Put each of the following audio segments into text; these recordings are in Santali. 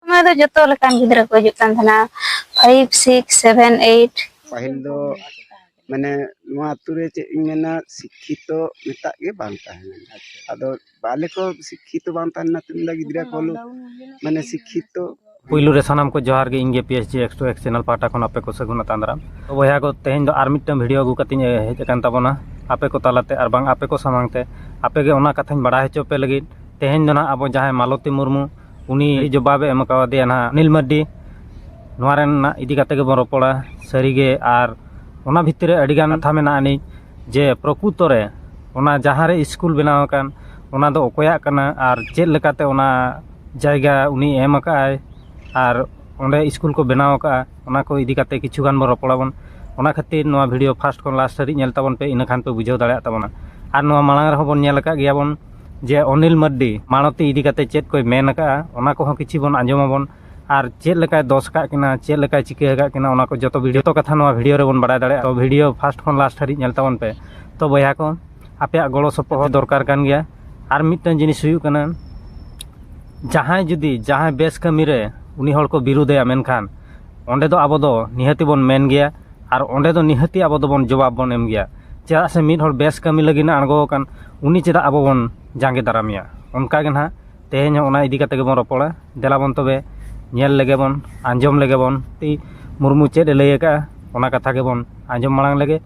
ᱥᱚᱢᱚᱭ ᱫᱚ ᱡᱚᱛᱚ ᱞᱮᱠᱟᱱ ᱜᱤᱫᱽᱨᱟᱹ ᱠᱚ ᱦᱤᱡᱩᱜ ᱠᱟᱱ ᱛᱟᱦᱮᱱᱟ ᱯᱷᱟᱭᱤᱵᱷ ᱥᱤᱠᱥ ᱥᱮᱵᱷᱮᱱ ᱮᱭᱤᱴ ᱯᱟᱹᱦᱤᱞ ᱫᱚ ᱢᱟᱱᱮ ᱱᱚᱣᱟ ᱟᱛᱳ ᱨᱮ ᱪᱮᱫ ᱤᱧ ᱢᱮᱱᱟ ᱥᱤᱠᱠᱷᱤᱛᱚ ᱢᱮᱛᱟᱜ ᱜᱮ ᱵᱟᱝ ᱛᱟᱦᱮᱸ ᱞᱮᱱᱟ ᱟᱫᱚ ᱵᱟᱞᱮ ᱠᱚ ᱥᱤᱠᱠᱷᱤᱛᱚ ᱵᱟᱝ ᱛᱟᱦᱮᱸ ᱞᱮᱱᱟ ᱛᱮᱢ ᱞᱮᱱᱟ ᱜᱤᱫᱽᱨᱟᱹ ᱠᱚ ᱦᱚᱞᱳ ᱢᱟᱱᱮ ᱥᱤᱠᱠᱷᱤᱛᱚ ᱯᱩᱭᱞᱩ ᱨᱮ ᱥᱟᱱᱟᱢ ᱠᱚ ᱡᱚᱦᱟᱨ ᱜᱮ ᱤᱧ ᱜᱮ P S G X two X channel ᱯᱟᱦᱴᱟ ᱠᱷᱚᱱ ᱟᱯᱮ ᱠᱚ ᱥᱟᱹᱜᱩᱱ ᱟᱛᱟᱝ ᱫᱟᱨᱟᱢ ᱛᱚ ᱵᱚᱭᱦᱟ ᱠᱚ ᱛᱮᱦᱮᱧ ᱫᱚ ᱟᱨ ᱢᱤᱫᱴᱟᱝ ᱵᱷᱤᱰᱤᱭᱳ ᱟᱹᱜᱩ ᱠᱟᱛᱮᱧ ᱦᱮᱡ ᱟᱠᱟᱱ ᱛᱟᱵᱚᱱᱟ ᱟᱯᱮ ᱠᱚ ᱛᱟᱞᱟᱛᱮ ᱟᱨ ᱵᱟᱝ ᱟᱯᱮ ᱠᱚ ᱥᱟᱢᱟᱝ ᱛᱮ ᱟᱯᱮ ᱜᱮ ᱚᱱᱟ ᱠᱟᱛᱷᱟᱧ ᱵᱟᱲᱟᱭ ᱦᱚᱪᱚ ᱯᱮ ᱞᱟᱹᱜᱤᱫ ᱛᱮᱦᱮᱧ ᱫᱚ ᱱᱟᱦᱟᱜ ᱟᱵᱚ ᱡᱟᱦᱟᱸᱭ ᱢᱟᱞᱚᱛᱤ ᱢᱩᱨᱢᱩ ᱩᱱᱤ ᱡᱚᱵᱟᱵᱮ ᱮᱢ ᱠᱟᱣᱫᱮᱭᱟ ᱱᱟᱦᱟᱜ ᱚᱱᱤᱞ ᱢᱟᱨᱰᱤ ᱱᱚᱣᱟ ᱨᱮᱱᱟᱜ ᱤᱫᱤ ᱠᱟᱛᱮ ᱜᱮᱵᱚᱱ ᱨᱚᱯᱚᱲᱟ ᱥᱟᱹᱨᱤᱜᱮ ᱟᱨ ᱚᱱᱟ ᱵᱷᱤᱛᱨᱤ ᱨᱮ ᱟᱹᱰᱤᱜᱟᱱ ᱠᱟᱛᱷᱟ ᱢᱮᱱᱟᱜ ᱟᱹᱱᱤᱡ ᱡᱮ ᱯᱨᱚᱠᱩᱛᱚ ᱨᱮ ᱚᱱᱟ ᱡᱟᱦᱟᱸ ᱨᱮ ᱥᱠᱩᱞ ᱵᱮᱱᱟᱣ ᱟᱠᱟᱱ ᱚᱱᱟ ᱫᱚ ᱚᱠᱚᱭᱟᱜ ᱠᱟᱱᱟ ᱟᱨ ᱪᱮᱫ ᱞᱮᱠᱟᱛᱮ ᱚᱱᱟ ᱡᱟᱭᱜᱟ ᱩᱱᱤ ᱮᱢ ᱟᱠᱟᱫ ᱟᱭ ᱟᱨ ᱚᱸᱰᱮ ᱥᱠᱩᱞ ᱠᱚ ᱵᱮᱱᱟᱣ ᱟᱠᱟᱫᱼᱟ ᱚᱱᱟ ᱠᱚ ᱤᱫᱤ ᱠᱟᱛᱮ ᱠᱤᱪᱷᱩ ᱜᱟᱱ ᱵᱚᱱ ᱨᱚᱯᱚᱲ ᱟᱵᱚᱱ ᱚᱱᱟ ᱠᱷᱟᱹᱛᱤᱨ ᱱᱚᱣᱟ ᱵᱷᱤᱰᱭᱳ ᱯᱷᱟᱥᱴ ᱠᱷᱚᱱ ᱞᱟᱥᱴ ᱫᱷᱟᱹᱨᱤᱡ ᱧᱮᱞ ᱛᱟᱵᱚᱱ ᱯᱮ ᱤᱱᱟᱹ ᱠᱷᱟᱱ ᱯᱮ ᱵᱩᱡᱷᱟᱹᱣ ᱫᱟᱲᱮᱭᱟᱜ ᱛᱟᱵᱚᱱᱟ ᱟᱨ ᱱᱚᱣᱟ ᱢᱟᱲᱟᱝ ᱨᱮᱦᱚᱸ ᱵᱚᱱ ᱧᱮᱞ ᱟᱠᱟᱫ ᱜᱮᱭᱟ ᱵᱚᱱ ᱡᱮ ᱚᱱᱤᱞ ᱢᱟᱨᱰᱤ ᱢᱟᱬᱚᱛᱤ ᱤᱫᱤ ᱠᱟᱛᱮ ᱪᱮᱫ ᱠᱚᱭ ᱢᱮᱱ ᱟᱠᱟᱫᱼᱟ ᱚᱱᱟ ᱠᱚᱦᱚᱸ ᱠᱤᱪᱷᱤ ᱵᱚᱱ ᱟᱸᱡᱚᱢ ᱟᱵᱚᱱ ᱟᱨ ᱪᱮᱫ ᱞᱮᱠᱟᱭ ᱫᱚᱥ ᱟᱠᱟᱫ ᱠᱤᱱᱟ ᱪᱮᱫ ᱞᱮᱠᱟᱭ ᱪᱤᱠᱟᱹ ᱟᱠᱟᱫ ᱠᱤᱱᱟ ᱚᱱᱟ ᱠᱚ ᱡᱚᱛᱚ ᱵᱷᱤᱰᱤᱭᱳ ᱡᱚᱛᱚ ᱠᱟᱛᱷᱟ ᱱᱚᱣᱟ ᱵᱷᱤᱰᱤᱭᱳ ᱨᱮᱵᱚᱱ ᱵᱟᱲᱟᱭ ᱫᱟᱲᱮᱭᱟᱜᱼᱟ ᱛᱚ ᱵᱷᱤᱰᱤᱭᱳ ᱯᱷᱟᱥᱴ ᱠᱷᱚᱱ ᱞᱟᱥᱴ ᱦᱟᱹᱨᱤᱡ ᱧᱮᱞ ᱛᱟᱵᱚᱱ ᱯᱮ ᱛᱚ ᱵᱚᱭᱦᱟ ᱠᱚ ᱟᱯᱮᱭᱟᱜ ᱜᱚᱲᱚ ᱥᱚᱯᱚᱦᱚᱫ ᱫᱚᱨᱠᱟᱨ ᱠᱟᱱ ᱜᱮᱭᱟ ᱟᱨ ᱢᱤᱫᱴᱟᱝ ᱡᱤᱱᱤᱥ ᱦᱩᱭᱩᱜ ᱠᱟᱱᱟ ᱡᱟᱦᱟᱸᱭ ᱡᱩᱫᱤ ᱡᱟᱦᱟᱸᱭ ᱵᱮᱥ ᱠᱟᱹᱢᱤ ᱨᱮ ᱩᱱᱤ ᱦᱚᱲ ᱠᱚ ᱵᱤᱨᱩᱫᱷᱮᱭᱟ ᱢᱮᱱᱠᱷᱟᱱ ᱚᱸᱰᱮ ᱫᱚ ᱟᱵᱚ ᱫᱚ ᱱᱤᱦᱟᱹᱛᱤ ᱵᱚᱱ ᱢᱮᱱ ᱜᱮᱭᱟ ᱟᱨ ᱚᱸᱰᱮ ᱫᱚ ᱱᱤᱦᱟᱹᱛᱤ ᱟᱵᱚ ᱫᱚᱵᱚᱱ ᱡᱚᱵᱟᱵᱽ ᱵᱚᱱ ᱮᱢ ᱜᱮᱭᱟ ᱪᱮᱫᱟᱜ ᱥᱮ ᱢᱤᱫ ᱦᱚᱲ ᱵᱮᱥ ᱠᱟᱹᱢᱤ ᱞᱟᱹᱜᱤᱫ ᱮ ᱟᱬᱜᱚ ᱟᱠᱟᱱ ᱩᱱᱤ ᱪᱮᱫᱟᱜ ᱟᱵᱚ ᱵᱚᱱ ᱡᱟᱸᱜᱮ ᱫᱟᱨᱟᱢᱮᱭᱟ ᱚᱱᱠᱟᱜᱮ ᱱᱟᱦᱟᱜ ᱛᱮᱦᱮᱧ ᱦᱚᱸ ᱚᱱᱟ ᱤᱫᱤ ᱠᱟᱛᱮᱫ ᱜᱮᱵᱚᱱ ᱨᱚᱯᱚᱲᱟ ᱫᱮᱞᱟ ᱵᱚᱱ ᱛᱚᱵᱮ ᱧᱮᱞ ᱞᱮᱜᱮ ᱵᱚᱱ ᱟᱸᱡᱚᱢ ᱞᱮᱜᱮ ᱵᱚᱱ ᱛᱤ ᱢᱩᱨᱢᱩ ᱪᱮᱫ ᱮ ᱞᱟᱹᱭ ᱟᱠᱟᱫᱼᱟ ᱚᱱᱟ ᱠᱟᱛᱷᱟ ᱜᱮᱵᱚᱱ ᱟᱸᱡᱚᱢ ᱢᱟᱲᱟᱝ ᱞᱮᱜᱮ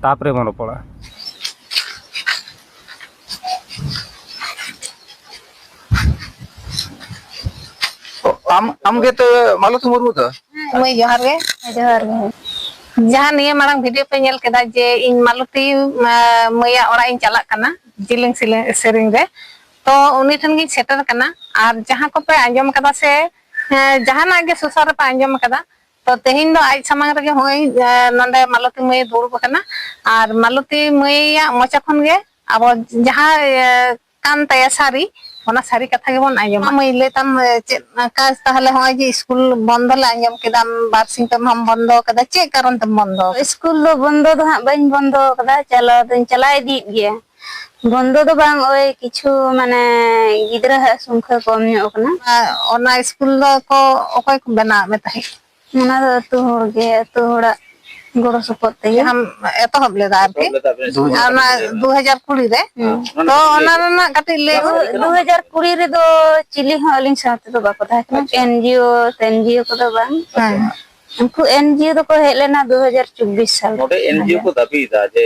ᱛᱟᱨᱯᱚᱨᱮ ᱵᱚᱱ ᱨᱚᱯᱚᱲᱟ ᱟᱢ ᱟᱢ ᱜᱮ ᱛᱚ ᱢᱟᱞᱚᱛᱤ ᱢᱩᱨᱢᱩ ᱫᱚ ᱢᱟᱹᱭ ᱡᱚᱦᱟᱨ ᱜᱮ ᱡᱚᱦᱟᱨ ᱜᱮ ᱡᱟᱦᱟᱸ ᱱᱤᱭᱟᱹ ᱢᱟᱲᱟᱝ ᱵᱷᱤᱰᱤᱭᱳ ᱯᱮ ᱧᱮᱞ ᱠᱮᱫᱟ ᱡᱮ ᱤᱧ ᱢᱟᱞᱚᱛᱤ ᱢᱟᱹᱭᱟᱜ ᱚᱲᱟᱜ ᱤᱧ ᱪᱟᱞᱟᱜ ᱠᱟᱱᱟ ᱡᱤᱞᱤᱝ ᱥᱮᱨᱮᱧ ᱨᱮ ᱛᱚ ᱩᱱᱤ ᱴᱷᱮᱱ ᱜᱤᱧ ᱥᱮᱴᱮᱨ ᱠᱟᱱᱟ ᱟᱨ ᱡᱟᱦᱟᱸ ᱠᱚᱯᱮ ᱟᱸᱡᱚᱢ ᱠᱟᱫᱟ ᱥᱮ ᱡᱟᱦᱟᱱᱟᱜ ᱜᱮ ᱥᱚᱥᱟᱨ ᱨᱮᱯᱮ ᱟᱸᱡᱚᱢ ᱠᱟᱫᱟ ᱛᱚ ᱛᱮᱦᱮᱧ ᱫᱚ ᱟᱡ ᱥᱟᱢᱟᱝ ᱨᱮᱜᱮ ᱦᱚᱸᱜᱼᱚᱭ ᱱᱚᱰᱮ ᱢᱟᱞᱚᱛᱤ ᱢᱟᱹᱭ ᱫᱩᱲᱩᱵ ᱠᱟᱱᱟ ᱟᱨ ᱢᱟᱞᱚᱛᱤ ᱢᱟᱹᱭᱟᱜ ᱢᱚᱪᱟ ᱠᱷᱚᱱ ᱜᱮ ᱟᱵᱚ ᱡᱟᱦᱟᱸ ᱠᱟᱱ ᱛᱟᱭᱟ ᱥᱟᱹᱨᱤ ᱚᱱᱟ ᱥᱟᱹᱨᱤ ᱠᱟᱛᱷᱟ ᱜᱮᱵᱚᱱ ᱟᱸᱡᱚᱢᱟ ᱢᱟᱹᱭ ᱞᱟᱹᱭ ᱛᱟᱢ ᱪᱮᱫ ᱠᱟᱡᱽ ᱛᱟᱦᱚᱞᱮ ᱦᱚᱸᱜᱼᱚᱭ ᱡᱮ ᱤᱥᱠᱩᱞ ᱵᱚᱱᱫᱚ ᱞᱮ ᱟᱸᱡᱚᱢ ᱠᱮᱫᱟ ᱵᱟᱨ ᱥᱤᱧ ᱯᱮ ᱢᱟᱦᱟᱢ ᱵᱚᱱᱫᱚ ᱠᱟᱫᱟ ᱪᱮᱫ ᱠᱟᱨᱚᱱ ᱛᱮᱢ ᱵᱚᱱᱫᱚ ᱟᱠᱟᱫᱟ ᱤᱥᱠᱩᱞ ᱫᱚ ᱵᱚᱱᱫᱚ ᱫᱚ ᱦᱟᱸᱜ ᱵᱟᱹᱧ ᱵᱚᱱᱫᱚ ᱟᱠᱟᱫᱟ ᱪᱟᱞᱟᱣ ᱫᱚᱧ ᱪᱟᱞᱟᱣ ᱤᱫᱤᱜ ᱜᱮᱭᱟ ᱵᱚᱱᱫᱚ ᱫᱚ ᱵᱟᱝ ᱳᱭ ᱠᱤᱪᱷᱩ ᱢᱟᱱᱮ ᱜᱤᱫᱽᱨᱟᱹ ᱦᱟᱜ ᱥᱚᱝᱠᱷᱟ ᱠᱚᱢ ᱧᱚᱜ ᱟᱠᱟᱱᱟ ᱚᱱᱟ ᱤᱥᱠᱩᱞ ᱫᱚ ᱠᱚ ᱚᱠᱚᱭ ᱠᱚ ᱵᱮᱱᱟᱣ ᱟᱫ ᱢᱮ ᱛᱟᱦᱮᱸᱫ ᱚᱱᱟ ᱫᱚ ᱟᱹᱛᱩ ᱦᱚᱲ ᱜᱮ ᱟᱹᱛᱩ ᱦᱚᱲᱟᱜ ᱜᱚᱲᱚ ᱥᱚᱯᱚᱦᱚᱫ ᱛᱮᱜᱮ ᱡᱟᱦᱟᱸᱢ ᱮᱛᱚᱦᱚᱵ ᱞᱮᱫᱟ ᱟᱨᱠᱤ ᱟᱨ ᱚᱱᱟ ᱫᱩ ᱦᱟᱡᱟᱨ ᱠᱩᱲᱤ ᱨᱮ ᱛᱚ ᱚᱱᱟ ᱨᱮᱱᱟᱜ ᱠᱟᱹᱴᱤᱡ ᱞᱟᱹᱭ ᱫᱩ ᱦᱟᱡᱟᱨ ᱠᱩᱲᱤ ᱨᱮᱫᱚ ᱪᱤᱞᱤ ᱦᱚᱸ ᱟᱹᱞᱤᱧ ᱥᱟᱶ ᱛᱮᱫᱚ ᱵᱟᱠᱚ ᱛᱟᱦᱮᱸ ᱠᱟᱱᱟ ᱮᱱᱡᱤᱭᱳ ᱮᱱᱡᱤᱭᱳ ᱠᱚᱫᱚ ᱵᱟᱝ ᱩᱱᱠᱩ ᱮᱱᱡᱤᱭᱳ ᱫᱚᱠᱚ ᱦᱮᱡ ᱞᱮᱱᱟ ᱫᱩ ᱦᱟᱡᱟᱨ ᱪᱚᱵᱵᱤᱥ ᱥᱟᱞ ᱱᱚᱰᱮ ᱮᱱᱡᱤᱭᱳ ᱠᱚ ᱫᱟᱹᱵᱤᱭᱮᱫᱟ ᱡᱮ